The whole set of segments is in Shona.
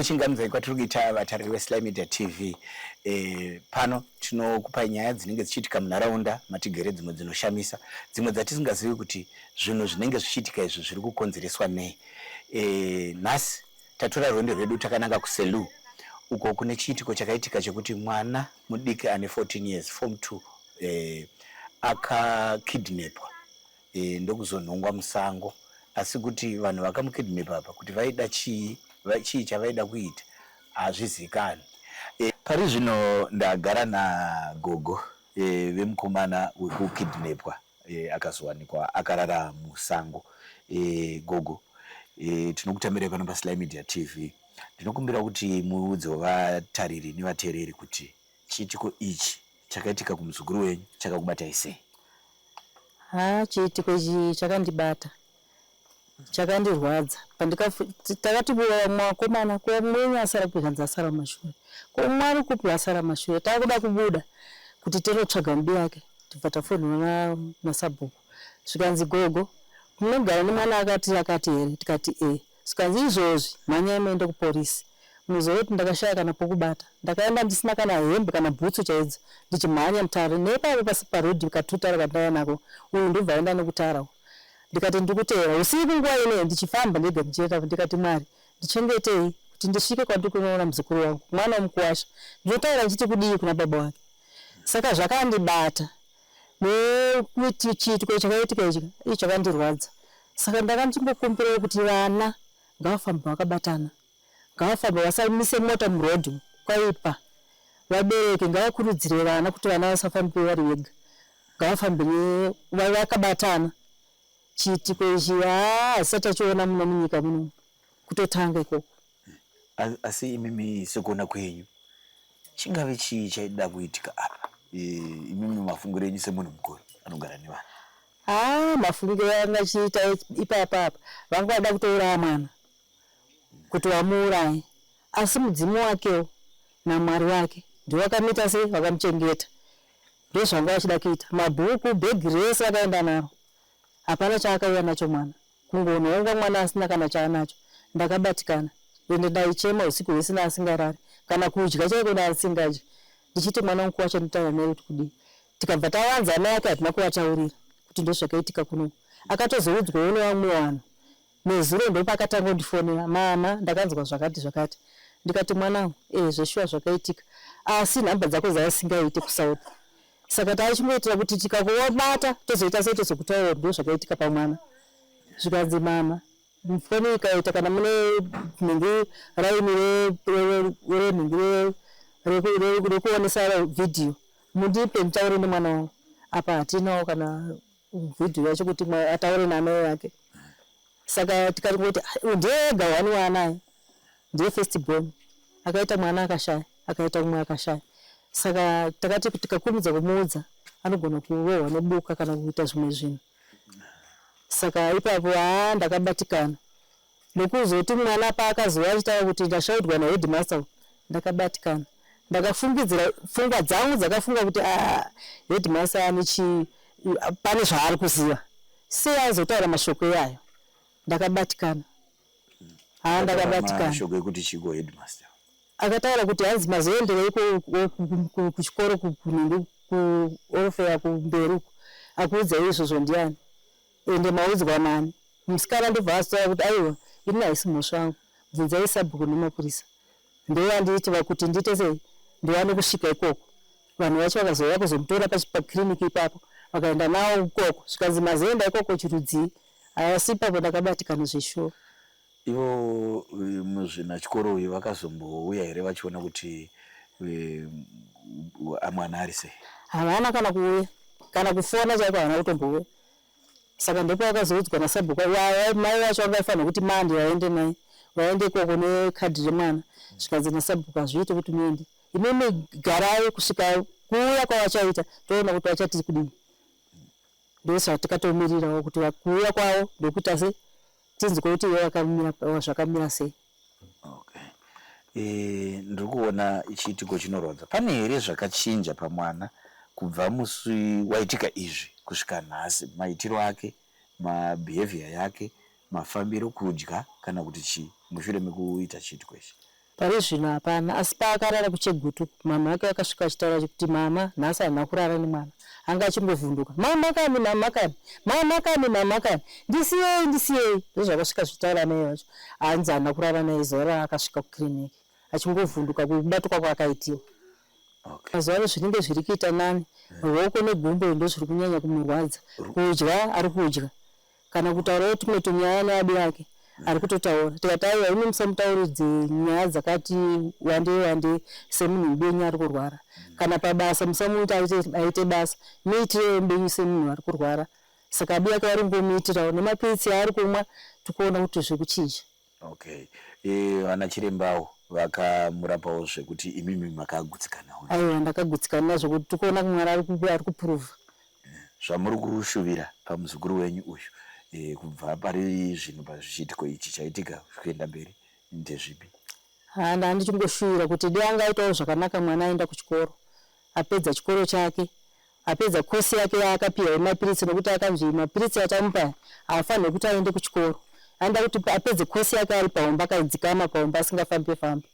chingamdzai kwatiri kuita vatariri vesly media tv e, pano tinokupai nyaya dzinenge dzichiitika munharaunda matigere dzimwe dzinoshamisa dzimwe dzatisingazivi kuti zvinhu zvinenge zvichiitika izvi zviri kukonzereswa nei e, nhasi Tatora rwendo rwedu takananga kuSelous uko kune chiitiko chakaitika chekuti mwana mudiki ane 14 years form 2 eh, akakidnepwa eh, ndokuzonhongwa musango asi kuti vanhu vakamukidnepa apa kuti vaida chii chii chavaida kuita hazvizikanwi eh, pari zvino ndagara nagogo eh, vemukomana wekukidnepwa eh, akazowanikwa akarara musango eh, gogo eh, tinokutamirai pano paSly Media TV ndinokumbira kuti muudzewo vatariri nevateereri kuti chiitiko ichi chakaitika kumuzukuru wenyu chakakubatai sei ha chiitiko ichi chakandibata chakandirwadza pandikafu takati mwakomana kuva mwenyu asara kupi kanzi asara mashure ko umwe ari kupi asara mashure takuda kubuda kuti tinotsvaga mbi yake tibva tafonera masabhuku zvikanzi gogo munogara nemwana akati akati here tikati ee zvikanzi izvozvi mhanyai muende kupolice muzive kuti ndakashaya kana pokubata ndakaenda ndisina kana hembe kana bhutsu chaidzo ndichimhanya mutare neipapo pasi paroad katutare kandaiva nako uyu ndobva aenda nekutara uku ndikati ndiri kuteera usiku nguva inei ndichifamba ndega ndichienda ndikati mwari ndichengetei kuti ndisvike kwandiri kunoona muzukuru wangu mwana wemukuwasha ndinotaura ndichiti kudii kuna baba wake saka zvakandibata nekuti chiitiko chakaitika ichi ii chakandirwadza saka ndakachingokumbirawo kuti vana ngavafambe vakabatana ngavafambe vasamise mota muroad umu kwaipa vabereki ngavakurudzire vana kuti vana vasafambe vari vega ngavafambe ne- va- vakabatana chiitiko ichi haa hasati achiona muno munyika muno kutotanga ikoko asi imimi sekuona kwenyu chingave chii chaida kuitika apa imimi mafungiro enyu semunhu mukuru anogara nevana haa ah, mafungiro anga achiita ipapa apa vanga vada kutouraya mwana kuti vamuuraye asi mudzimu wakewo namwari wake ndiwo vakamita sei vakamuchengeta ndozvanga vachida kuita mabhuku bhegi rese vakaenda naro hapana chaakauya nacho mwana Kungonoonga mwana asina kana chaanacho ndakabatikana ende ndaichema husiku hwese neasingarari kana kudya chaiko neasingadyi ndichiti mwana wangu wacho ndotaura naye kuti kudii tikabva tavanza amai ake hatina kuvataurira kuti ndozvakaitika kunoku akatozoudzwawo nevamwe vanhu nezuro ndopaakatangondifonera mama ndakanzwa zvakati zvakati ndikati mwanangu ee zveshuwa zvakaitika asi nhamba dzako dzaasingaite kusouth saka taichingoitira kuti tikakuvabata tozoita sei tozokutaura kuti ndozvakaitika pamwana zvikanzi mama foni ikaita kana mune nhingi raini renhingi rekuonesa vhidhiyo mundipe nditaure nemwana wangu apa hatinawo kana video yacho kuti ataure naamai vake saka tikati kuti ndega wani waanaye ndiye first born akaita mwana akashaya akaita umwe akashaya saka takati tikakurumidza kumuudza anogona kurohwa nebuka kana kuita zvimwe zvinhu saka ipapo haa ndakabatikana ndokuzoti mwana paakazouya achitaura kuti ndashaudwa naheadmaster uyu ndakabatikana ndakafungidzira pfungwa dzangu dzakafunga kuti ah, headmaster ane chii pane zvaari kuziva sei aizotaura mashoko iyayo ndakabatikana haa ndakabatikana shoko ekuti chiko headmaster akataura kuti hanzi mazoenderei kuchikoro kunenge kuorofeya kumberi uko akuudzai izvozvo ndiani Ende maudzwa naani? Musikana ndobva azitaura kuti aiwa ini haisi mhosva yangu bvunzai sabhuku nemapurisa ndivo vandiitira kuti ndiite sei ndiwane kusvika ikoko. Vanhu vacho vakazouya kuzomutora paclinic ipapo vakaenda nawo ikoko zvikanzi mazoenda ikoko chirudzii asi ipapo ndakabatikana zveshuwa. Ivo muzvinachikoro uyu vakazombouya here vachiona kuti amwana ari sei? Havana kana kuuya kana kufona chaiko havana kutombouya saka ndopaakazoudzwa nasabhuku mai vacho vanga vaifanirwa kuti mandi vaende naye vaende ikoko nekadhi remwana zvikanzi nasabhuku hazviite kuti muende imimi garai kusvika kuuya kwavachaita toona kuti vachati kudii ndosvatikatomirirawo kuti kuuya kwavo ndokuita se tinzwe kuti ivo vakamira zvakamira sei Okay. Eh, ndiri kuona chiitiko chinorwadza. Pane here zvakachinja pamwana kubva musi waitika izvi kusvika nhasi? Maitiro ake, mabehavior yake, mafambiro, kudya kana kuti chii mushure mekuita chiitiko ichi? Pari zvino hapana, asi paakarara kuChegutu, mhamha ake akasvika achitaura kuti mhamha nhasi handina kurara nemwana. Anga achingovhunduka, mhamha kani, mhamha kani, mhamha kani, mhamha kani, ndisiyei, ndisiyei. Ndozvakasvika zvichitaura amai vacho. hanzi haana kurara naye zuva raakasvika kukiriniki achingovhunduka kubatwa kwaakaitiwa okay. mazuva ano zvinenge zviri kuita nani ruoko negumbo ndo zviri kunyanya kumurwadza kudya ari kudya kana kutaurawo tumwe tunyaya neadi yake ari kutotaura tikati aiwa imi musamutauridze nyaya dzakati wande wande semunhu mubenyu ari kurwara kana pabasa musamuita aite basa muitire mubenyu semunhu ari kurwara saka abi yake waringomuitirawo nemapiritsi aari kumwa tikuona kuti zviri kuchinja okay eh, vana chirembawo vakamurapawo zvekuti imimi makagutsikanawo aiwa ndakagutsikana nazvo kuti tikuona kumwana ari kuprova eh, zvamuri kushuvira pamuzukuru wenyu uyu eh, kubva pari zvinhu pazvichiitiko ichi chaitika zvikuenda mberi ndezvipi handa handichingoshuwira kuti dei angaitawo zvakanaka mwana aenda kuchikoro apedza chikoro chake apedza course yake yaakapiwa yemapiritsi nokuti akanzi mapiritsi atamupa aya haafanirwe kuti aende kuchikoro anoda kuti apedze course yake ari pahomba akadzikama pahomba asingafambe fambe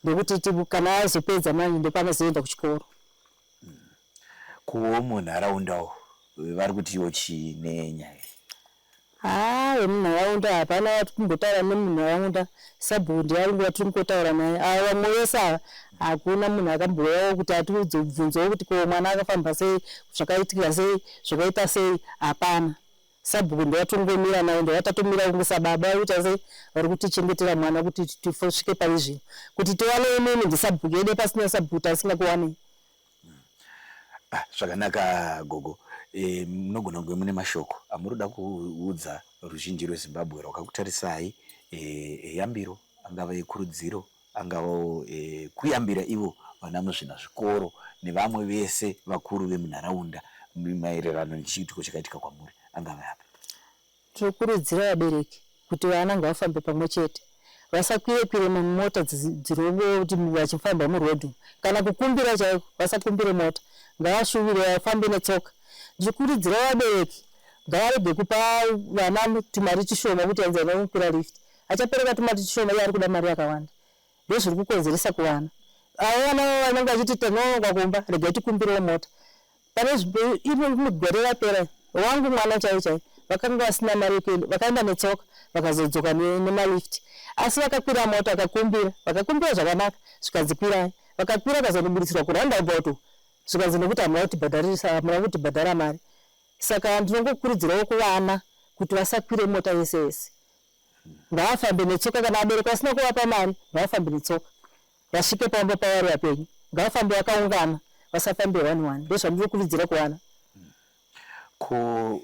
ndokuti ti kana azopedza manje ndopanozoenda kuchikoro kuwo munharaunda uwo vari kutiwo chii nenyaya Haa vemunharaunda hapana vatikumbotaura nemunharaunda sabhuku ndiye aringuva tirikungotaura naye ava vamwe vese ava hakuna munhu akambouyawo kuti atiudze ubvunzo wekuti ko mwana akafamba sei zvakaitika sei zvakaita sei hapana sabhuku ndovatongomira naye ndovatattomira kunge sababa vari kuita sei vari kutichengetera mwana kuti tifosvike pari zvino kuti tiwane imimi ndisabhuku yede pasina sabhuku taisingakuwanei Ah, zvakanaka gogo Eh, munogona kunge mune mashoko amuri kuda kuudza ruzhinji rwezimbabwe rwakakutarisai eh, eyambiro angava ekurudziro angavawo eh, kuyambira ivo vana muzvina zvikoro nevamwe vese vakuru vemunharaunda maererano nechiitiko chakaitika kwamuri angava api Tinokurudzira vabereki kuti vana ngavafambe pamwe chete, vasakwire kwire mumota dzinongoti vachifamba muroad umu kana kukumbira chaiko vasakumbire mota ngavashuvire vafambe netsoka. Ndichikurudzira vabereki ngavarege kupa vana tumari tushoma kuti hanzi vana vanokwira lift, achapereka tumari tushoma iye ari kuda mari yakawanda. Ndozviri kukonzeresa kuvana avo vana vanenge vachiti tinonoka kumba regai tikumbirewo mota. Pane rimwe gore rapera, wangu mwana chaiye chaiye vakanga vasina mari yekuenda, vakaenda netsoka vakazodzoka nemalift. Asi vakakwira mota, vakakumbira, vakakumbira zvakanaka zvikanzi kwirai. Vakakwira vakazonobuditsirwa kuroundabout uko zvikanzi nekuti hamuna kutibhadharisa, hamuna kutibhadhara mari. Saka ndinongokurudzirawo kuvana kuti vasakwire mota yese yese, ngavafambe netsoka. Kana vabereki vasina kuvapa mari, ngavafambe netsoka. Vasvike pamba pavari vapenyu ngavafambe vakaungana vasafambe one one ndozvandiri kuvidzira kuvana. Ko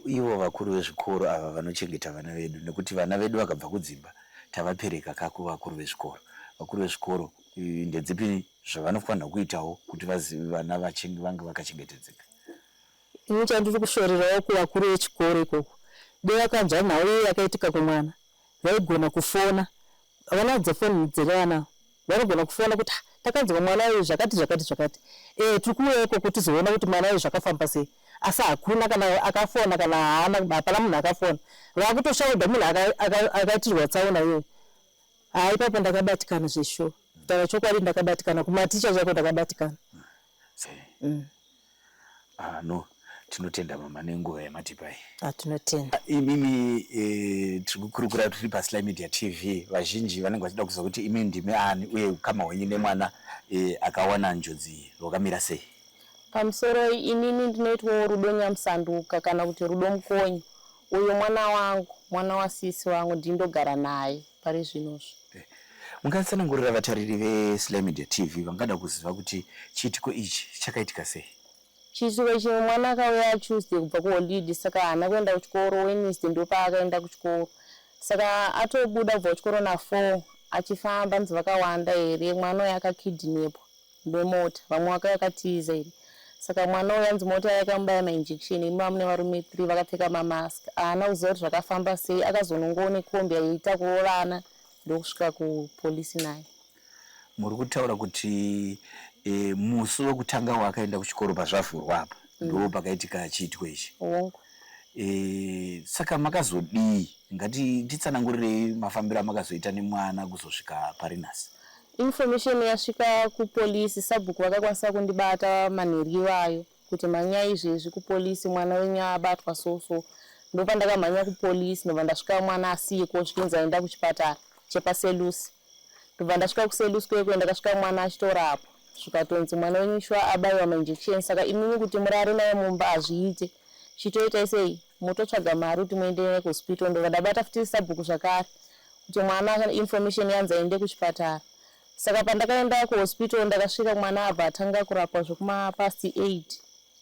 ivo vakuru vezvikoro ava vanochengeta vana vedu nekuti vana vedu vakabva kudzimba tavapereka ka kuvakuru vezvikoro. Vakuru vezvikoro ndedzipi zvavanofanirwa kuitawo kuti vana vange vakachengetedzeka? Ini chandiri kushorerawo kuvakuru vechikoro ikoko dei vakanzwa nhau iyo yakaitika kumwana vaigona kufona Vanadzo phone dzevana vanogona kufona kuti ah takanzwa mwana uyu zvakati zvakati zvakati eh tiri kuuya ikoko tizoona kuti mwana uyu zvakafamba sei asi hakuna kana akafona kana haana hapana munhu akafona vakutoshaudha munhu akaitirwa tsaona iyoyo ha ipapo ndakabatikana zveshuwa kutaura chokwadi ndakabatikana kumaticha chaiko ndakabatikana Mm. Ah, no tinotenda mama nenguva yamatipa iyi Ah, tinotenda. Ah, imimi eh, tiri kukurukura tiri pasly media tv vazhinji vanenge vachida kuziva kuti imi ndimi ani uye ukama hwenyu nemwana eh, akawana njodzi iyi hwakamira sei Pamusoro iyi, inini ndinoitwawo Rudo Nyamusanduka kana kuti Rudo Mukonye. Uyu mwana wangu, mwana wasisi vangu, ndini ndogara naye. pari zvino zvo. Mungatsanangurira vatariri veSly Media TV vangada kuziva kuti chiitiko ichi chakaitika sei? Chiitiko ichi mwana akauya Tuesday kubva kuholidhi saka haana kuenda kuchikoro, Wednesday ndipo paakaenda kuchikoro saka atobuda kubva kuchikoro naFour achifamba hanzi vakawanda here mwana uyu akakidnepwa. bemota vamwe waka yakatiza iri saka mwana uyu anzi mota yakamubaya mainjection imi vamune varume three vakapfeka mamask haana kuziva kuti zvakafamba sei akazonongowo nekombi yaiita kurovana ndokusvika kupolisi naye muri kutaura kuti e, musi wekutanga waakaenda kuchikoro pazvavhurwa apa mm. ndoo pakaitika chiitiko ichi hongu e, saka makazodii ngati titsanangurirei mafambiro amakazoita nemwana kuzosvika pari nhasi Information yasvika kupolice sabhuku vakakwanisa kundibata manheru iwayo kuti mhanyai izvezvi kupolice mwana wenyu abatwa so so ndopandakamhanya kupolice ndobva ndasvika mwana asiyeko zvikinzi aenda kuchipatara chepaselusi ndobva ndasvika kuselusi kwekwe ndakasvika mwana achitorapwa zvikatonzi mwana wenyu shuwa abaiwa mainjection saka imimi kuti murare naye mumba hazviite chitoitai sei mototsvaga mari kuti muende naye kuhospital ndobva ndabata futi sabhuku zvakare kuti mwana information yanzi aende kuchipatara saka pandakaenda kuhospital ndakasvika mwana abva atanga kurapwa zvekumapast aid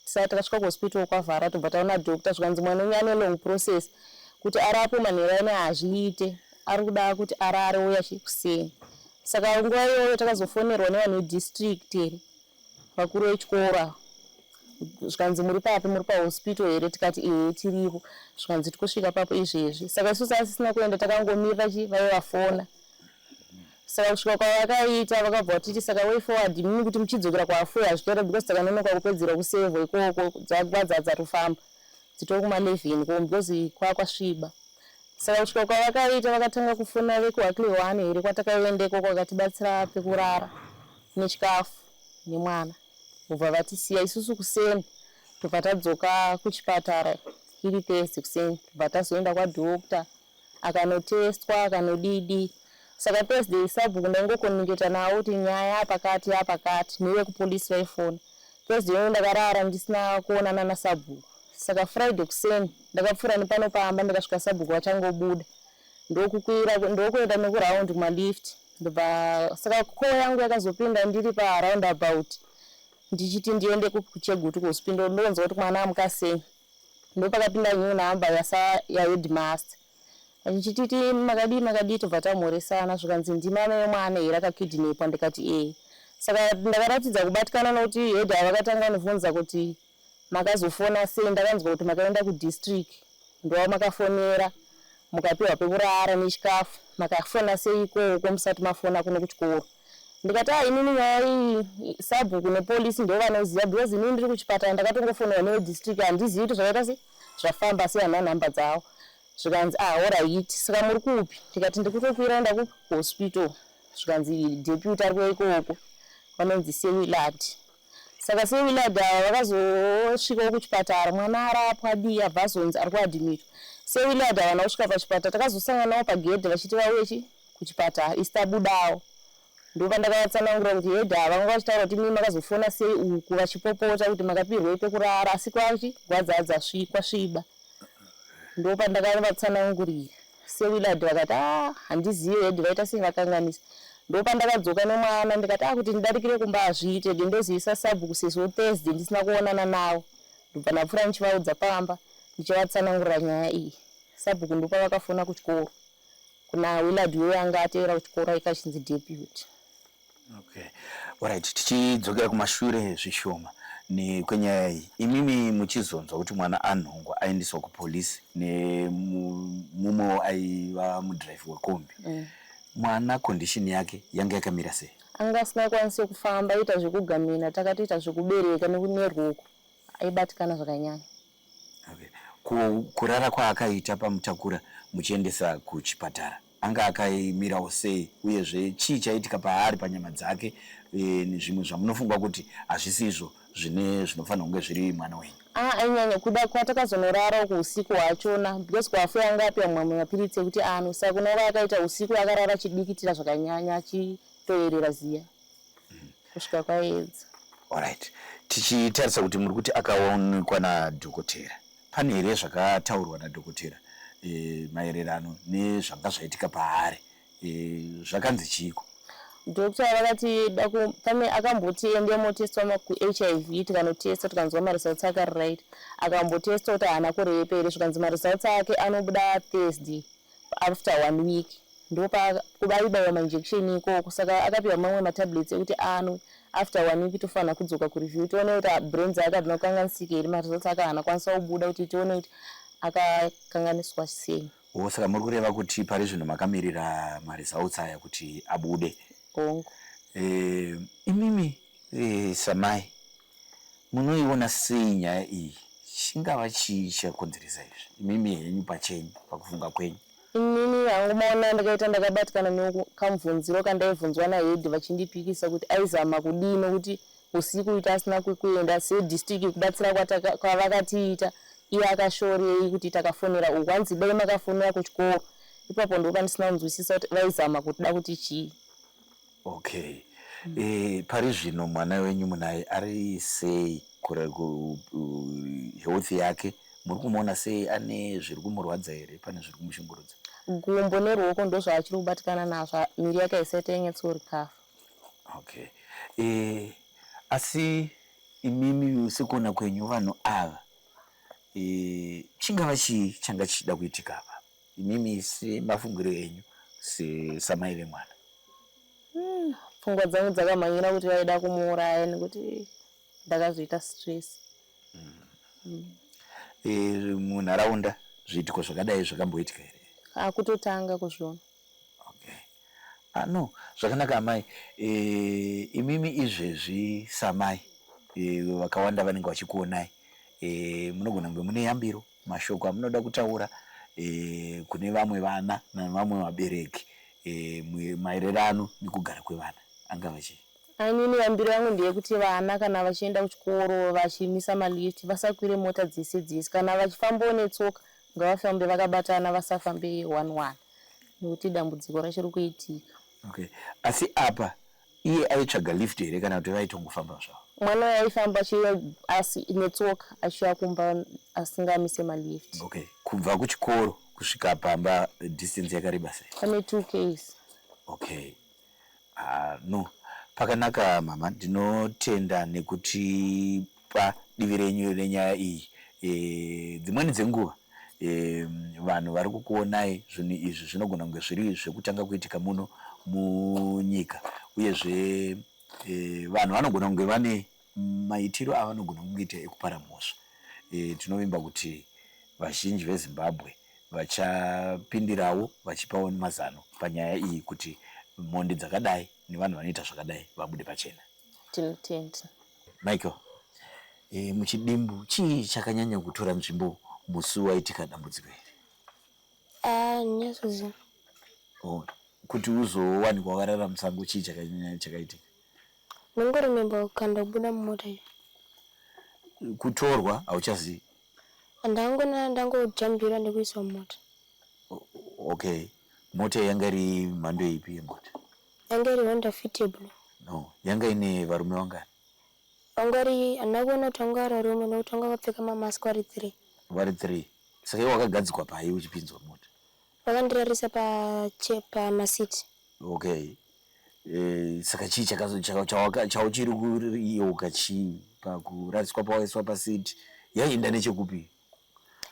tisati takasvika kuhospital kwavhara tobva taona doctor zvikanzi mwana wenyu ane long process kuti arapwe manheru aine hazviite ari kuda kuti arare uya kuseni saka nguva iyoyo takazofonerwa nevanhu vedistrict here vakuru vechikoro ava zvikanzi muri papi muri pahospital here tikati ehe tiripo zvikanzi tikosvika papo izvezvi saka isu saasisina kuenda takangomirira chi vaive vafona saka kusvika kwavakaita vakabva vatiti saka way forward mimi kuti muchidzokera kwaafoi hazvitora because takanonoka kupedzera kusevho ikoko dzagwadza dzatofamba dzitori kumalevhen ko because kwakwasviba saka kusvika kwavakaita vakatanga kufona vekuhakle one here kwatakaenda ikoko vakatibatsira pekurara nechikafu nemwana vobva vatisiya isusu kuseni tobva tadzoka kuchipatara iri Thursday kuseni tobva tazoenda kwadoctor akanotestwa akanodidi saka Thursday sabhuku ndaingokomuniketa navo kuti nyaya yapakati yapakati nevekupolisi vaifona Thursday yoyo ndakarara ndisina kuonana nasabhuku saka Friday kuseni ndakapfuura nepano pamba ndikasvika sabhuku vachangobuda ndokukwira ndokuenda nekuraundi kumalift ndobva saka call yangu yakazopinda ndiri paround about ndichiti ndiende kuchegutu kuhospital ndonzwa kuti mwana amuka sei ndopakapinda new number yasa yaheadmaster ndichititi makadii makadii tobva tamhoresana zvikanzi ndimame yemwana here akakidnepwa ndikati ee saka ndakaratidza kubatikana nokuti head havakatanga nivhunza kuti Makazofona sei ndakanzwa kuti makaenda kudistrict ndova makafonera mukapiwa pekurara nechikafu makafona sei ikoko musati mafona kuno kuchikoro ndikati ah inini nyaya iyi sabhuku nepolice ndivo vanoziva because inini ndiri kuchipatara ndakatongofonerwa nevedistrict handizivi kuti zvakaita sei zvafamba asi hana nhamba dzavo zvikanzi ah orayiti saka muri kupi ndikati ndiri kutokwira enda kuhospital zvikanzi deputy ari kuya ikoko vanonzi sewilati Saka se Willard ava vakazosvikawo kuchipatara mwana arapwa adii abva azonzi ari kuadhimita. Se Willard havana kusvika pachipatara takazosanganawo pagedhe vachiti vauye chi kuchipatara isu tabudawo. Ndopandakavatsanangurira kuti hede ava vanga vachitaura kuti mii makazofona sei uku vachipopota kuti makapirwei pekurara asi kwachi gwadzadza svi kwasviba. Ndopandakavavatsanangurira. sewillard vakati a handizive head vaita sei vakanganisa ndopandakadzoka nemwana ndikati akuti ndidarikire kumba hazviite de ndozivisa sabhuku sezvo thursday ndisina kuonana navo ndobva ndapfuura ndichivaudza pamba ndichivatsanangurira nyaya iyi sabhuku ndopa vakafona kuchikoro kuna willard wewe anga atevera kuchikoro aikachinzi deputy Okay. Alright, tichidzokera kumashure zvishoma kwenyaya iyi imimi muchizonzwa kuti mwana anhongwa aendeswa kupolisi nemumwewo aiva mudhiraivhi wekombi mm. mwana condition yake yange yakamira sei anga asina kwanise kufamba aita zvekugamina takatoita zvekubereka nekuneruoko aibatikana zvakanyanya Okay. Ku, kurara kwaakaita pamutakura muchiendesa kuchipatara anga akaimirawo sei uyezve chii chaiitika paari panyama dzake e, zvimwe zvamunofunga kuti hazvisi izvo zvine zvinofanira kunge zviri mwana wenyu ah, ainyanya kuda kwatakazonorara uko usiku hwachona because kwafu yanga apiwa mamwe mapiritsi ekuti anwe saka unova akaita usiku akarara achidikitira zvakanyanya achitoyerera ziya kusvika kwaedza Alright. Tichitarisa kuti muri kuti akaonekwa nadhokotera. Pane here zvakataurwa nadhokotera e, maererano nezvanga zvaitika paari e, zvakanzi chiiko? Doctor vakati pane akamboti ende motestwa kuHIV tikanotesta tikanzwa maresults ake ari right akambotesta kuti haana kurepa here zvikanzi maresults ake anobuda Thursday After one week ndopakubaibaiwa mainjection ikoko saka akapiwa mamwe matablets ekuti anwe after one week tofanira kudzoka kureview tione kuti ah, brain dzaake hadzina kukanganisika here maresults ake haana kwanisa kubuda kuti tione kuti akakanganiswa sei o saka muri kureva kuti pari zvino makamirira maresults aya kuti abude hongu e, imimi e, samai Munoiona sei nyaya iyi? Chingava chii chakonzeresa izvi, imimi henyu pachenyu, pakufunga kwenyu? Inini hangu maona ndakaita ndakabatikana nekamubvunziro kandaibvunzwa nahead vachindipikisa kuti aizama kudii nokuti husiku uyu tasina kwekuenda sedistrict kubatsira kwavakatiita iye akashorei kuti takafonera uku hanzi idai makafonera kuchikoro ipapo ndipo pandisina kunzwisisa kuti vaizama kuda kuti chii. Okay. Eh, pari zvino mwana wenyu munaye ari sei kure ku- ku- health yake muri kumuona sei ane zviri kumurwadza here pane zviri kumushungurudza gumbo neruoko ndozvaachiri kubatikana nazvo ha- miri yake haisaita yenyatsorikafa okay eh, asi imimi sekuona kwenyu vanhu ava eh, chingava chii changa chichida kuitika apa Imimi semafungiro enyu samai vemwana? Hmm, pfungwa dzangu dzakamhanyira kuti vaida kumuuraya nekuti ndakazviita stress. Hmm. Hmm. E, munharaunda zviitiko zvakadai zvakamboitika here? Akutotanga kuzviona. Okay. Ah, no, zvakanaka amai. E, imimi izvezvi samai e, vakawanda vanenge vachikuonai e, munogona kunge mune yambiro mashoko amunoda kutaura e, kune vamwe vana navamwe vabereki e, maererano nekugara kwevana angava chii Inini yambiro yangu ndeyekuti vana kana vachienda kuchikoro vachimisa malift vasakwire mota dzese dzese kana vachifambawo netsoka ngavafambe vakabatana vasafambe one one nekuti dambudziko rachiri kuitika okay asi apa Iye aitsvaga lift here kana kuti vaitongofamba zvavo? Mwana uyu aifamba achiuya asi netsoka achiuya kumba asingamise malift. Okay. Kubva kuchikoro kusvika pamba distance yakareba sei? Pane 2 k's. Okay. Ah, no. Pakanaka mama, ndinotenda nekuti pa divi renyu renyaya iyi e, dzimweni dzenguva e, vanhu vari kukuonai zvinhu izvi zvinogona kunge zviri zvekutanga kuitika muno munyika uyezve e, vanhu vanogona kunge vane maitiro avanogona kungeita ekupara mhosva e, tinovimba kuti vazhinji vezimbabwe vachapindirawo vachipawo mazano panyaya iyi kuti mhondi dzakadai nevanhu vanoita zvakadai vabude pachena tinotenda Michael e, muchidimbu chii chakanyanya kutora nzvimbo musi waitika dambudziko iri ah, nyasozi oh, kuti uzowanikwa wakarara musango chii chakanyanya chakaitika nongorememba kukanda kubuda mumota iyo kutorwa hauchazivi ndangonana ndangojambira ndekuiswa mumota okay mota yanga iri mhando ipi yemota Yanga iri Honda Fit yeblue. No, yanga ine varume vangani? Vanga vari, handina kuona kuti vanga vari varume nekuti vanga vakapfeka mamask vari three. Vari three. Saka iwe wakagadzikwa pai uchipinzwa mota? Vakandirarisa pa che pa masiti. Okay. Eh, saka chii chakazo chaka- chawaka- chauchiri kuriyeuka chii pakurariswa pawaiswa pasiti yaienda nechekupi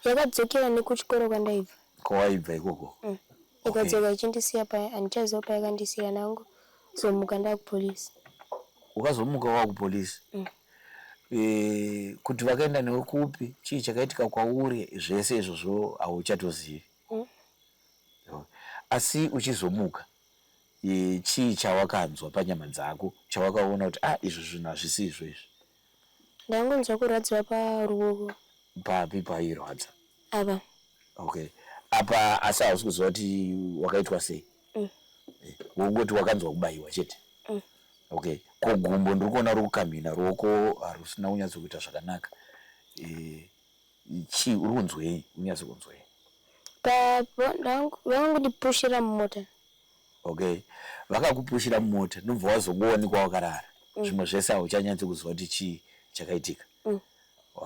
Yakadzokera nekuchikoro kwandaibva. Kwawaibva ikoko? Mm. Ikadzoka okay. Ichindisiya paya handichaziva payakandisiya nangu zomuka ndakupolice. Ukazomuka wakupolice? Mm. E, kuti vakaenda newe kupi chii chakaitika kwauri zvese izvozvo hauchatozivi. Mm. Asi uchizomuka chii chawakanzwa panyama dzako chawakaona kuti ah izvo zvinhu hazvisi izvo izvi Ndangonzwa kurwadziwa paruoko. Papi pairwadza? Apa. Okay. Apa asi hausi kuziva kuti wakaitwa sei? Mm. Eh, wongoti wakanzwa kubayiwa chete? Mm. Okay. Ko gumbo ndiri kuona uri kukamhina ruoko harusina kunyatso kuita zvakanaka. Eh, chii uri kunzwei? Unyatso kunzwei? Papa vangu ndipushira mumota. Okay vakakupushira mumota ndobva wazongowanikwa wakarara mm. zvimwe zvese hauchanyatsi kuziva kuti chii chakaitika mm.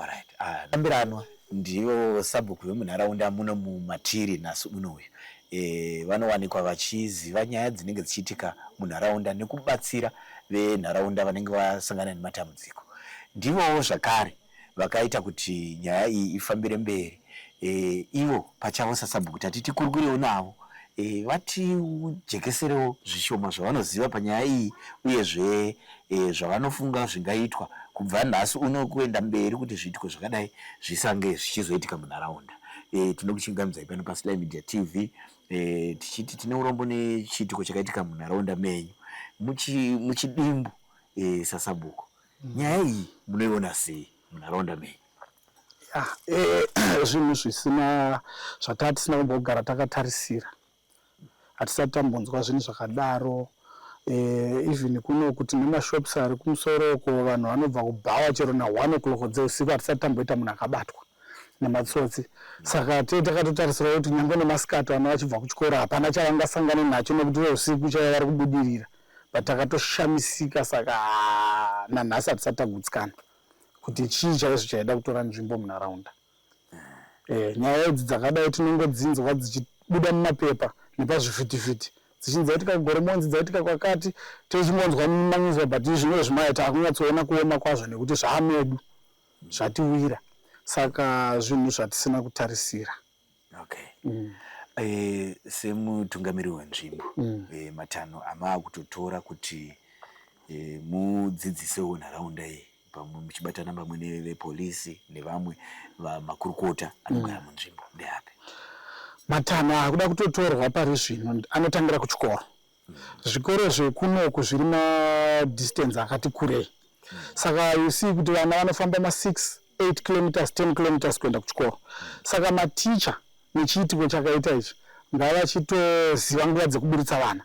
alright ah, tambiranwa ndivo sabhuku vemunharaunda muno mumatiri nhasi uno uyu e, vanowanikwa vachiziva nyaya dzinenge dzichiitika munharaunda nekubatsira venharaunda vanenge vasangana nematambudziko ndivowo zvakare vakaita kuti nyaya iyi ifambire mberi e, ivo pachavo sasabhuku tati tikurukuriwo navo e, vatijekeserewo zvishoma zvavanoziva panyaya iyi uyezve e, zvavanofunga zvingaitwa kubva nhasi uno kuenda mberi kuti zviitiko zvakadai zvisange zvichizoitika munharaunda e, tinokuchingamidzai pano pasly media tv e, tichiti tine urombo nechiitiko chakaitika munharaunda menyu muchidimbu muchi e, sasabhuku Nyaya iyi munoiona sei munharaunda menyu? Ah, eh, zvinhu zvisina zvatatisina kumbogara takatarisira hatisati tambonzwa zvinhu zvakadaro eh, even kuno kuti nemashops ari kumusoro uko vanhu vanobva kubhawa chero na one o'clock dzeusiku hatisati tamboita munhu akabatwa nematsotsi saka tee takatotarisira kuti nyange nemasikati vana vachibva kuchikoro hapana chavangasangane nacho nekuti veusiku chava vari kubudirira but takatoshamisika saka ah, nanhasi hatisati tagutsikana kuti chii chaizvo chaida kutora nzvimbo munharaunda eh, nyaya idzi dzakadai tinongodzinzwa dzichibuda mumapepa nepazvivhitivhiti dzichinzi yaitika kugoromonzi dzaitika kwakati tezvingonzwa mumanyuza but izvino zvimaya takunyatsoona kuoma kwazvo nekuti zvaamedu zvatiwira saka zvinhu zvatisina kutarisira Okay. Mm. Eh, semutungamiriri wenzvimbo mm. eh, matanho amaakutotora kuti eh, mudzidzisewo nharaunda iyi pamwe muchibatana pamwe nevepolisi nevamwe vamakurukota anogara mm. munzvimbo ndeapi matanho akuda kutotorwa pari zvino anotangira kuchikoro Zvikoro zvekunoku zviri ma distance akati kurei. Saka you see kuti vana vanofamba ma 6, 8 kilometers, 10 kilometers kuenda kuchikoro. Saka maticha nechiitiko chakaita ichi ngavachitoziva nguva dzekuburitsa vana.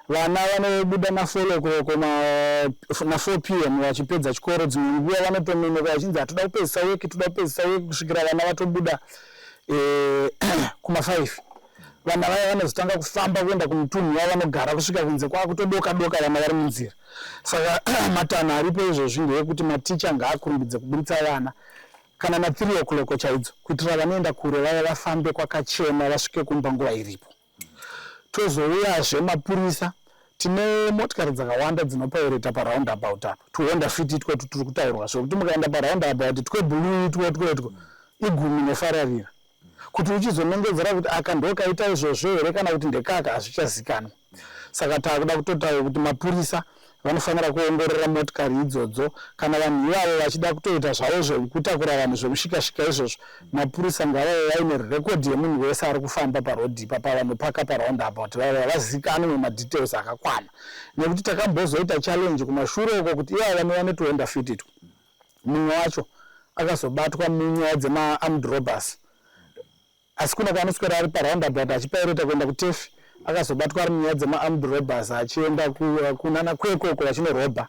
Vana vanobuda na 4 o'clock ma- na 4 pm vachipedza chikoro, dzimwe nguva vanotononoka vachinzi hatoda kupedzisa weki, toda kupedzisa weki kusvikira vana vatobuda eh, kuma 5. vana vaya vanozotanga kufamba kuenda kumutunhu wavo vanogara kusvika kunze kwakutodoka doka vana vari munzira saka matanho aripo izvozvi ndeyekuti maticha ngaakurumbidze kuburitsa vana kana na three o'clock chaidzo kuitira vanoenda kure vaya vafambe kwakachena vasvike kumba nguva iripo tozouyazve mapurisa tine motikari dzakawanda dzinopaureta paround about apa tuhonda fiti itwo tutiri kutaurwa zvekuti mukaenda paround about twe blue itwo twetwo igumi nefararira Kuti uchizonongedzera kuti aka ndokaita izvozvo here kana kuti ndekaka hazvichazikanwa. Saka takuda kutotaura kuti mapurisa vanofanira kuongorora motikari idzodzo kana vanhu ivavo vachida kutoita zvavo zvekutakura vanhu zvemushikashika izvozvo mapurisa ngavave vaine rekodhi yemunhu wese ari kufamba parodhi ipa pavanopaka paround about vave havazikanwe nemadetails akakwana nekuti takambozoita challenge kumashure uko kuti ivavo vanova netoenda fititwa mumwe wacho akazobatwa munyaya dzemaarmed robbers asi kuna kwaanoswera ari paroundabout achipaireta kuenda kutefi akazobatwa ari munyaya dzemaarmed robbers achienda kunana kweko uko vachinorobha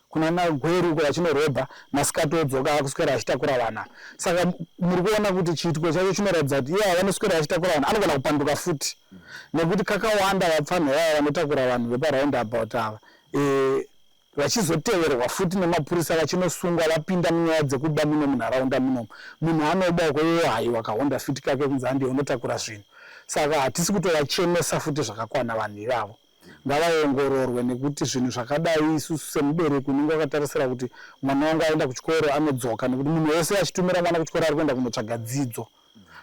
kunana gweru uko vachinorobha masikati odzoka akuswera achitakura vana saka muri kuona kuti chiitiko chacho chinoratidza kuti iye avanoswera achitakura vanhu anogona kupanduka futi nekuti kakawanda vapfanha vaya vanotakura vanhu veparoundabout ava eh, vachizoteverwa futi nemapurisa vachinosungwa vapinda munyaya dzekuba muno munharaunda munomu munhu anoba uko iwo haiwa kahonda fiti kake kunzi handiye unotakura zvinhu saka hatisi kutovachemesa futi zvakakwana vanhu ivavo ngavaongororwe nekuti zvinhu zvakadai isusu semubereki unenge wakatarisira kuti mwana wangu aenda kuchikoro anodzoka nekuti munhu wese achitumira mwana kuchikoro ari kuenda kunotsvaga dzidzo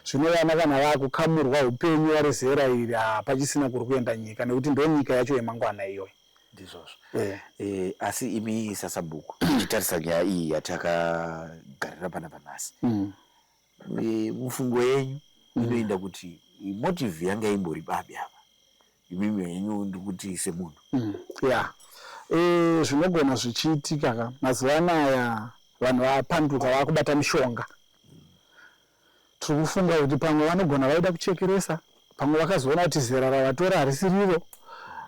zvino vana kana vakukamurwa upenyu vari zera iri hapachisina kuri kuenda nyika nekuti ndo nyika yacho yemangwana iyoyo ndizvozvo yeah. e, asi imi sasabhuku tichitarisa nyaya iyi yatakagarira pana panhasi mm. e, mufungo yenyu mm. inoenda mm. kuti motive yanga imbori babi apa imimi henyu ndikuti semunhu mm. ya yeah. e, zvinogona zvichiitika ka mazuva anaya vanhu vapanduka vakubata mishonga Tiri kufunga kuti pamwe vanogona vaida kuchekeresa, pamwe vakazoona kuti zera ravatora harisi riro,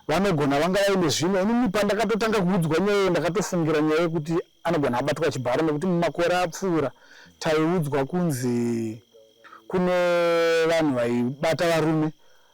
vanogona vanga vaine zvimwe. Inini pandakatotanga kuudzwa nyaya iyo ndakatofungira nyaya yekuti anogona abatwa chibharo nekuti mumakore apfuura taiudzwa kunzi kune vanhu vaibata varume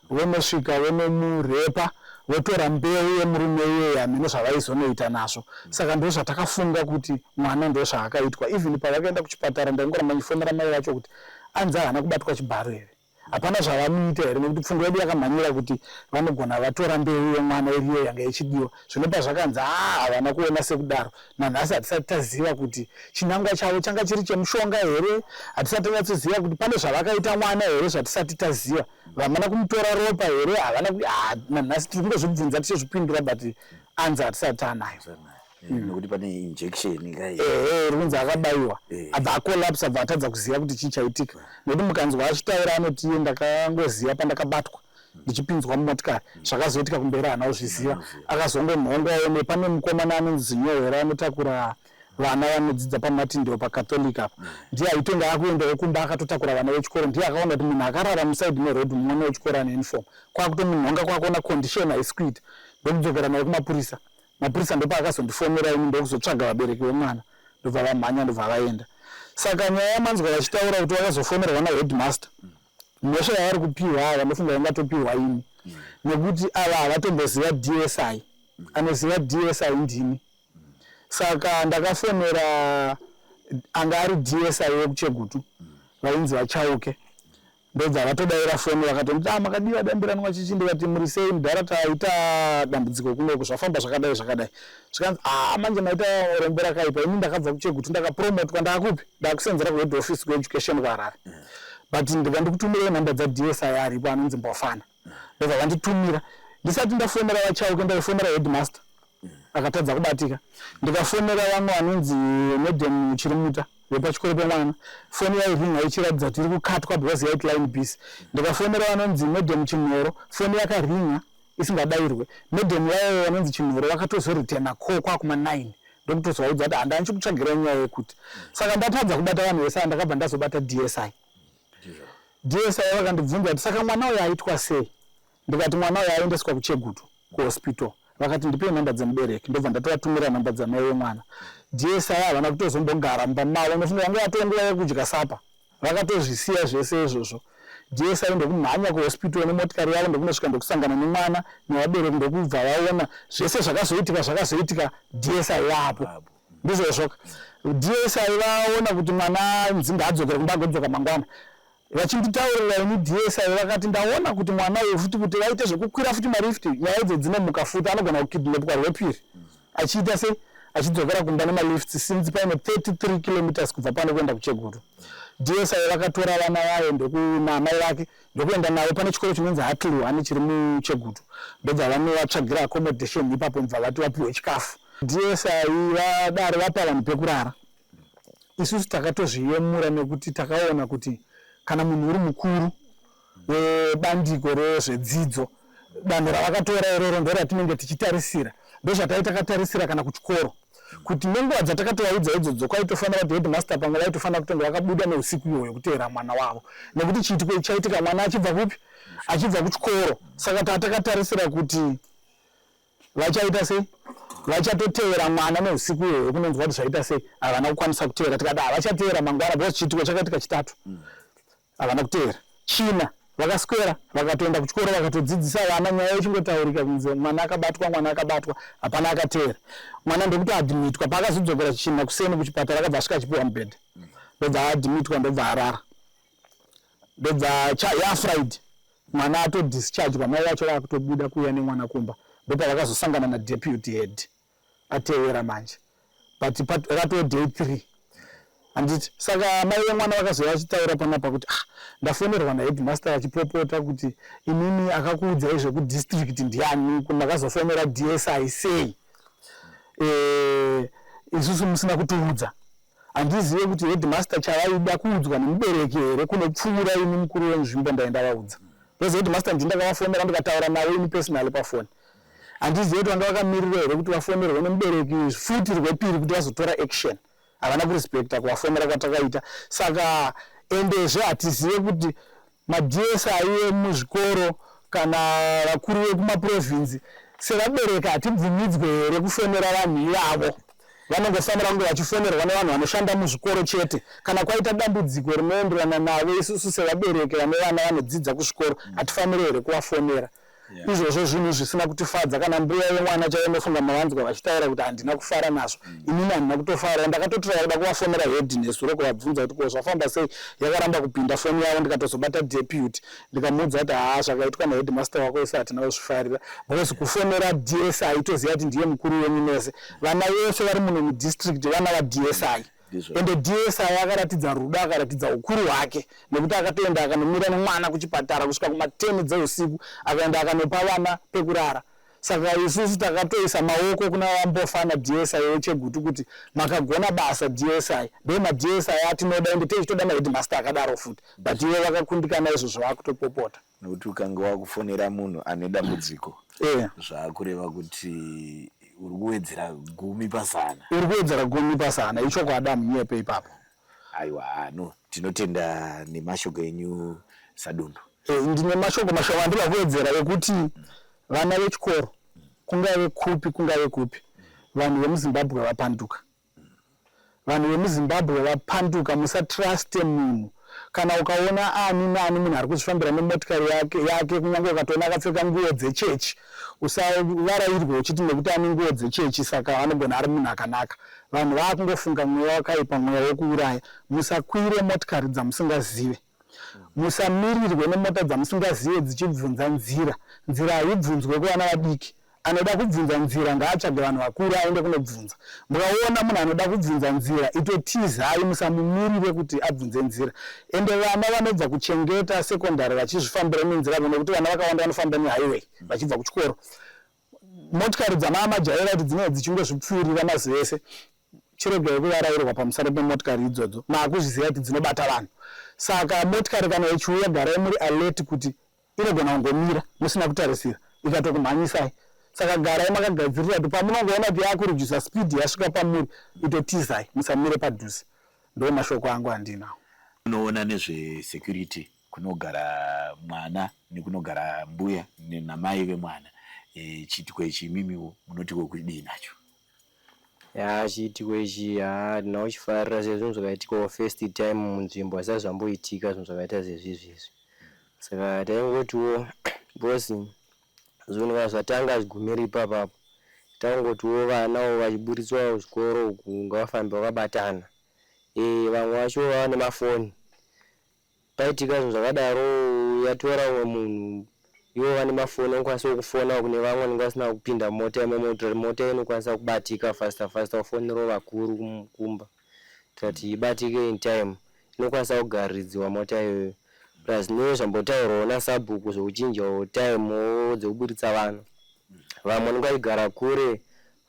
Vonosvika vonomurepa votora mbeu yemurume iyeye hameno zvavaizonoita nazvo saka ndozvatakafunga kuti mwana ndozvaakaitwa even pavakaenda kuchipatara ndaingoramba ndichifonera mai vacho kuti anzi ahana kubatwa chibharo here hapana zvavamuita here nekuti pfungwa yedu yakamhanyira kuti vanogona vatora mbeu yemwana iriyo yanga ichidiwa zvino pazvakanzi haa ah, havana kuona sekudaro nanhasi hatisati taziva kuti chinangwa chavo changa chiri chemushonga here hatisati tanyatsoziva kuti pane zvavakaita mwana here zvatisati taziva vamana kumutora ropa here havana ah, nanhasi tiri kungozvibvunza tichizvipindura but anzi hatisati taanayo eh, hmm. nekuti pane injection ehe eh, rikunzi akabayiwa eh. abva acolapse abva atadza kuziva kuti chii chaitika nekuti mukanzwa achitaura anoti iye ndakangoziva pandakabatwa hmm. ndichipinzwa mumotikari hmm. zvakazoitika kumberi hana kuzviziva akazongonhongwa one pane mukomana anonzi nyohera anotakura vana vanodzidza pamartin ndiwo pacatholic apa mm. ndiye aitonga akuendawo kumba akatotakura vana vechikoro ndiye akaona kuti munhu akarara musaidi meroad mumwana wechikoro ane uniform kwakutomunhonga kwakuona condition haisi kuita ndokudzokera naye kumapurisa mapurisa ndopaakazondifonera ini ndokuzotsvaga vabereki vemwana ndobva vamhanya ndobva vaenda saka nyaya yamanzwa vachitaura kuti vakazofonerwa naheadmaster mm. mhosva yavari kupiwa ava ndofunga vangatopiwa ini mm. nekuti ava havatomboziva dsi anoziva dsi ndini saka ndakafonera anga ari dsi wekuchegutu vainzi vachauke ndobva vatodaira foni vakatonditi ah, makadii vadambirani vachichi ndikati muri sei mudhara taita dambudziko kunoku zvafamba zvakadai zvakadai zvikanzi aa ah, manje maita rombo rakaipa ini ndakabva kuchegutu ndakapromotwa ndaakupi ndaakusenzera kuhead office kueducation kuharare but ndikandikutumirai nhamba dzadsi aripo anonzi mbofana ndobva vanditumira ndisati ndafonera vachauke ndaifonera headmaster akatadza kubatika ndikafonera vamwe vanonzi madam chirimuta vepachikoro pemwana foni yairinga ichiratidza kuti iri kukatwa because yait line bus ndikafonera vanonzi madam chinhoro foni yakaringa isingadairwe madam vaye vanonzi chinhoro vakatozoritena ko kwakuma 9 ndokutozovaudza kuti handani chikutsvagira nyaya yekuti saka ndatadza kubata vanhu vese andakabva ndazobata dsi DSI vakandibvunza kuti saka mwana uyo aitwa sei ndikati mwana uyo aendeswa kuchegutu kuhospital vakati ndipei nhamba dzemubereki ndobva ndatovatumira nhamba dzamai vemwana DSI havana kutozombogara mumba mavo nofunga vanga vatova nguva yekudya sapa vakatozvisiya zvese izvozvo DSI ndokumhanya kuhospital nemotikari yavo ndokunosvika ndokusangana nemwana nevabereki ndokubva vaona zvese zvakazoitika zvakazoitika DSI vapo ndizvozvoka dsy vaona kuti mwana nzinga adzokere kumba agodzoka mangwana vachinditaurira ini dsy vakati ndaona kuti mwana uyu futi kuti vaite zvekukwira futi malift nyaya idzo dzinomuka futi anogona kukidnepwa rwepiri achiita sei achidzokera kumba nemalift since paine 33 kilometers kubva pano kuenda kucheguru dsy vakatora vana vayo ndokunamai vake ndokuenda navo pane chikoro chinonzi Hatluhane chiri muChegutu ndobva vanovatsvagira accommodation ipapo ndibva vati vapiwe chikafu DSI vadaro vapa vanhu pekurara isusu takatozviyemura nekuti takaona kuti kana munhu uri mukuru webandiko rezvedzidzo danho ravakatora iroro ndoratinenge tichitarisira ndozvatai takatarisira kana kuchikoro kuti nenguva dzatakatovaudzwa idzodzo kwaitofanira kuti headmaster pamwe vaitofanira kutonge vakabuda neusiku iyoyo kuteera mwana wavo nekuti chiitiko ichaitika mwana achibva kupi achibva kuchikoro saka tatakatarisira kuti vachaita sei vachatoteera mwana neusiku iyoyo kunonzwa kuti zvaita sei havana kukwanisa kuteera tikada havachateera mangwana because chiitiko chakaitika chitatu mm. Havana kutevera tsvina vakaswera vakatoenda kuchikoro vakatodzidzisa vana nyaya yochingotaurika kunze mwana akabatwa mwana akabatwa hapana akatevera mwana ndokuti adhimitwa paakazodzokera china kuseni kuchipatara akabva asvika achipiwa mubhedha ndobva adhimitwa ndobva arara ndobva yafriday mwana atodischargwa mai vacho vakutobuda kuuya nemwana kumba ndopavakazosangana nadeputy head patevera manje but pat, ratove day three handiti saka mai vemwana vakazouya vachitaura panapa kuti ah, ndafonerwa naheadmaster vachipopota kuti imimi akakuudzai zvekudistrict ndiani makazofonera dsi sei e, isusu musina kutiudza handizive kuti headmaster chavaida kuudzwa nemubereki here kunopfuura ini mukuru wenzvimbo ndaenda vaudza because headmaster ndindakavafonera ndikataura navo ini personally pafoni Handizive kuti vanga vakamirirwa here kuti vafonerwe nemubereki futi rwepiri kuti vazotora action. Havana kurespecta kuvafonera kwatakaita. Saka endezve hatizive kuti maDSI emuzvikoro kana vakuru vekumaprovinzi sevabereki hatibvumidzwe here kufonera vanhu ivavo vanongofanira kunge vachifonerwa nevanhu vanoshanda muzvikoro chete kana kwaita dambudziko rinoenderana navo isusu sevabereki vane vana vanodzidza kuzvikoro hatifaniri here kuvafonera yeah. izvozvo zvinhu zvisina kutifadza kana mbuya yemwana chaiyo inofunga mavanzwa vachitaura kuti handina kufara nazvo mm. inini handina kutofara ndakatotora yakuda kuvafonera hedhi nesuro kuvabvunza kuti ko zvafamba sei yakaramba kupinda foni yavo ndikatozobata deputy ndikamuudza kuti haa zvakaitwa nehedhi master wako ese hatina kuzvifarira because kufonera dsi toziva kuti ndiye mukuru wenyu mese vana vese vari muno mudistrict vana vadsi ende dsi akaratidza rudo akaratidza ukuru hwake nekuti akatoenda akanomira nemwana kuchipatara kusvika kumateni dzeusiku akaenda akanopa vana pekurara saka isusu takatoisa maoko kuna vambofa na dsi wechegutu kuti makagona basa dsi ndo madsi atinoda ende teichitoda mahedmaster akadaro futi but ivo vakakundikana izvozvo vakutopopota Nokuti ukange wakufonera munhu ane dambudziko eh. zvakureva kuti uri kuwedzera gumi pazana. Uri kuwedzera gumi pazana ichokwadi amunyepe ipapo. Aiwa no tinotenda nemashoko enyu sadundu. E, eh, ndine mashoko mashoma andida kuwedzera ekuti vana vechikoro kungave kupi kungave kupi vanhu vemuzimbabwe vapanduka Vanhu vemuZimbabwe vapanduka musatruste munhu kana ukaona ani nani munhu ari kuzvifambira nemotikari yake yake kunyange ukatoona akapfeka nguwo dzechechi usavarairwe uchiti nekuti ane nguwo dzechechi saka anogona ari munhu akanaka vanhu vaakungofunga mweya wakaipa mweya wekuuraya musakwire motikari dzamusingazive musamirirwe nemota dzamusingazive dzichibvunza nzira nzira haibvunzwe kuvana vadiki anoda kubvunza nzira ngaatsvage vanhu vakuru aende kunobvunza mukaona munhu anoda kubvunza nzira itotizai musamumirire kuti abvunze nzira ende vana vanobva kuchengeta secondary vachizvifambira nenzira vo nekuti vana vakawanda vanofamba nehighway vachibva kuchikoro Motikari dzamaamajaira kuti dzinenge dzichingozvipfuurira mazuva ese chiregai kuvarairwa pamusoro pemotikari idzodzo maakuzviziva kuti dzinobata vanhu saka motikari kana ichiuya garai muri alert kuti inogona kungomira musina kutarisira ikatokumhanyisai saka garai makagadzirira kuti pamunongoona kuti yakurudzvisa speed yasvika pamuri itotizai musamire padhuze ndo mashoko angu andinawo unoona nezvesecurity kunogara mwana nekunogara mbuya namai vemwana e, chiitiko ichi imimiwo munotiko kudii nacho ya chiitiko ichi ha ndinakuchifarira sezvo zvinhu zvakaitikawo first time munzvimbo asi azvamboitika zvinhu zvakaita zvezvizvi izvi saka taingotiwo because zvinhu kana zvatanga zvigumiri ipapapo taingotiwo vanawo vachiburitswawo zvikoro uku ngavafambe vakabatana e, vamwe vacho vava nemafoni Paitika zvinhu zvakadaro yatora umwe munhu ivo vane mafoni vanokwanisa kufona kune vamwe vanenge vasina kupinda mota imomo kuitira kuti mota inokwanisa kubatika fasta fasta kufonerawo vakuru kumba kuitira kuti ibatike in time inokwanisa kugaridziwa mota iyoyo plus neye zvambotaurwawo nasabhuku zvekuchinjawo time dzekuburitsa vana vamwe vanenge vachigara kure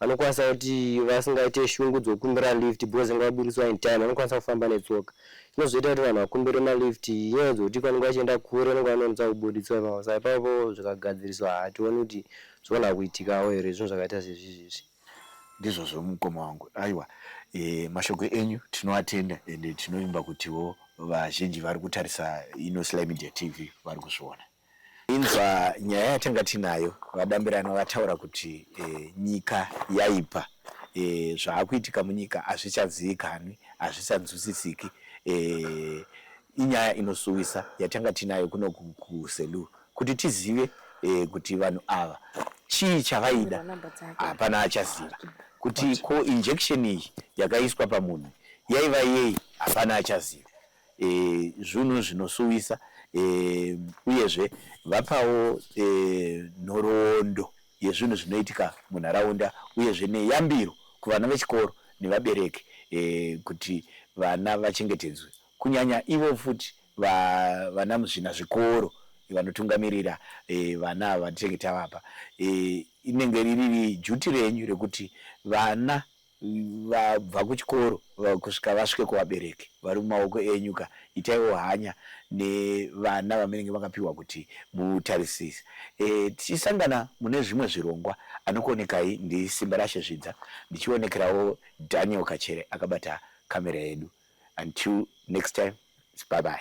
Vanokwanisa kuti vasingaite shungu dzokukumbira lift because vanga vaburitswa in time, vanokwanisa kufamba netsoka. Zvinozoita kuti vanhu vakumbire malift inyaya dzokuti vanenge vachienda kure vanenge vanonetsa kuburitswa ipapo. Saka ipapo zvikagadziriswa hationi kuti zvogona kuitikawo here zvinhu zvakaita sezvizvi izvi. Ndizvozvo mukoma wangu. Aiwa eh, mashoko enyu tinoatenda ende tinovimba kutiwo vazhinji vari kutarisa ino Sly Media TV vari kuzviona. Inzwa nyaya yatanga tinayo vadambirana vataura kuti e, nyika yaipa e, zvaakuitika munyika hazvichazivikanwi hazvisanzwisisiki e, eh, inyaya inosuwisa yatanga tinayo kuno kuselu kuti tizive e, kuti vanhu ava chii chavaida hapana achaziva kuti ko injection iyi yakaiswa pamunhu yaiva yei hapana achaziva e, zvunhu zvinosuwisa e, uyezve vapawo e, nhoroondo yezvinhu zvinoitika munharaunda uyezve neyambiro kuvana vechikoro nevabereki e, kuti vana vachengetedzwe kunyanya ivo futi va, vana muzvina zvikoro vanotungamirira e, vana ava vatinenge tavapa e, inenge riri juti renyu rekuti vana Vabva kuchikoro kusvika vasvike kuvabereki vari mumaoko enyu ka itaiwo hanya nevana vamunenge makapihwa kuti mutarisise. Tichisangana mune zvimwe zvirongwa anokuonekai ndi Simbarashe Zvidza ndichionekerawo Daniel Kachere akabata camera yedu until next time it's bye bye.